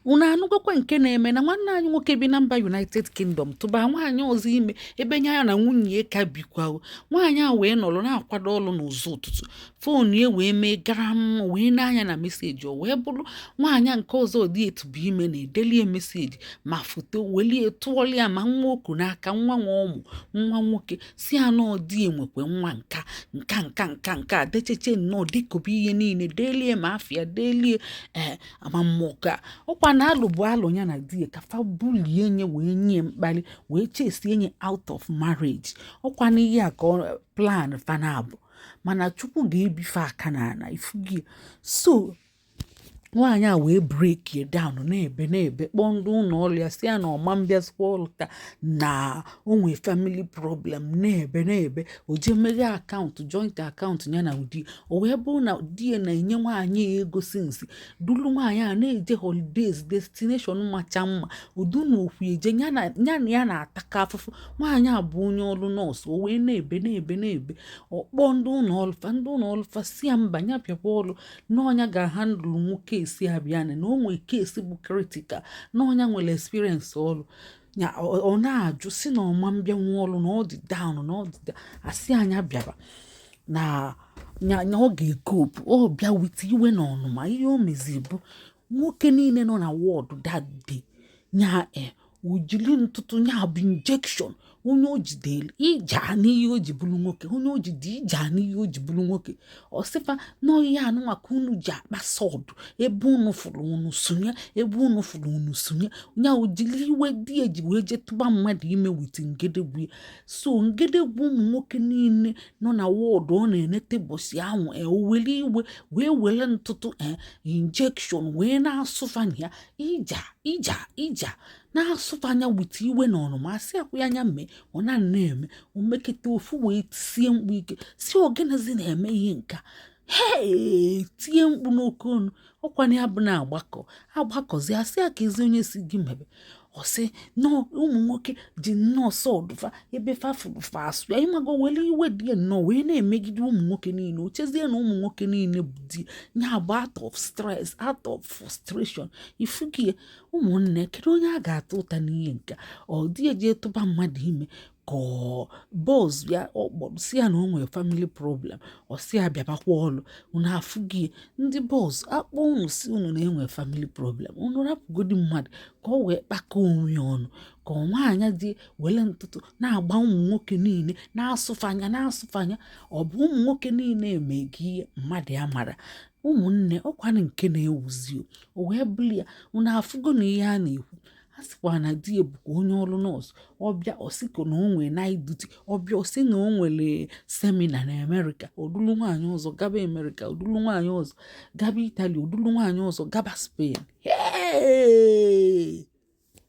unu anụgokwa nke na-eme na nwanne anyị nwoke bi na mba united kingdom tụba nwaanyị ọzọ ime ebe nya na nwunye ya ka bikwa nwaanyị a wee nọrọ na-akwado ọrụ n'ụzọ ụtụtụ fon ya wee mee garam ọ wee nee anya na meseji o wee bụrụ nwaanyị nke ọzọ di e tụba ime na-edelu ya meseji ma foto welie tụọlụ ya ma nwa o ku n'aka nwa nwa ụmụ nwa nwoke si ya na ọ di e nwekwe nwa nka nka nka nka nka decheche nnọọ dekọbe ihe niile delie ma afịa delie ee eh, ama mmụọ ka ọkwanụ alụ bụ alụ ya na di ya ka fa bulie nye wee nye mkpali wee chesie nye out of marriage ọkwanụ ya ka plan fa na-abụ mana chukwu ga-ebi fa aka n'ana ifugie so nwaanyị a wee breakie down na-ebe na-ebe kpọọ ndị ụlọ ọrụ ya si ya na ọ ma mbịazikwa ọrụ taa na o nwee family problem na-ebe na-ebe o jee meghe account joint account ya na di e o wee bụrụ na di ya na-enye nwaanyị a ego since dulu nwaanyị a na-eje holidays destination macha mma udu na okwu eje ya na ya na-ataka afụfụ nwaanyị a bụ onye ọrụ nurse o wee na-ebe na-ebe na-ebe ọ kpọọ ndị ụlọ ọlụ fa ndị ụlọ ọlụ fa si ya mba ya bịakwa ọrụ na ọ nya ga-ahandle case a bịa na o nwee case bụ critical na ọ nya nwere experience ọrụ ya ọ na-ajụ si na ọ ma mbịanwu ọrụ na ọ dị down na ọ dị a sị nya bịaba na ya ọ ga-ecope ọ bịa with iwe na ọnụma ihe o mezi bụ nwoke niile nọ na ward that day ya e eh, o jili ntụtụ ya bụ injection onye o jidere ija n'ihe o ji bụrụ nwoke onye o jide ija n'ihe o ji bụrụ nwoke ọ sị fa na ọ ihe a nụnwa ka unu ji akpa sọ ọdụ ebe unu fụrụ unu sụnye ebe unu fụrụ unu sụnye nya o jili iwe di e ji wee jee tụba mmadụ ime with ngedegwu ya so ngedegwu ụmụ nwoke niile nọ na ward ọ na-enete ụbọsị ahụ e, o were iwe wee were ntụtụ e, injection wee na-asụ fa nya ija ija ija na-asụ fa nya with iwe na ọnụma asị akwụ ya anya mee ọ na na-eme o meketa ofu wee tisie mkpu ike si ọ gịnịzi na-eme ihe nke a hee tie mkpu n'oke ọnụ ọkwanụ ya bụ na a gbakọ a gbakọzi a sị ya kezi onye si gị mebe ọ sị na ụmụ nwoke ji nnọọ sọ ọdụ fa ebe fa fụ fa asụye ị mago wele iwe di ya nnọọ wee na-emegide ụmụ nwoke niile o chezie na ụmụ nwoke niile bụ di ya bụ out of stress out of frustration ifugie ụmụnne kedu onye a ga-ata ụta n'ihe nka ọ di e jee tụba mmadụ ime ka boss ya ọ kpọrọ si ya na o nwere family problem ọ si ya bịabakwa ọlụ unu afugie ndị boss a kpọọ unu si unu na e nwee family problem unu rapụgodi mmadụ ka ọ wee kpakọ onwe ya ọnụ ka nwaanyị ji wele ntụtụ na-agba ụmụ nwoke niile na-asụ fa nya na-asụ fa nya ọ bụ ụmụ nwoke niile mee gị ihe mmadụ amara ụmụnne ọ kwanụ nke na-ewuzi o wee bụrụ ya unu afụgo na ihe a na-ekwu a sịkwa na di ya bụkwa onye ọrụ nọọsụ ọ bịa ọ sịkwa na o nwere night duty ọ bịa ọ sị na o nwere semina na amerịka o dulu nwaanyị ọzọ gaba amerịka o dulu nwaanyị ọzọ gaba itali o dulu nwaanyị ọzọ gaba spain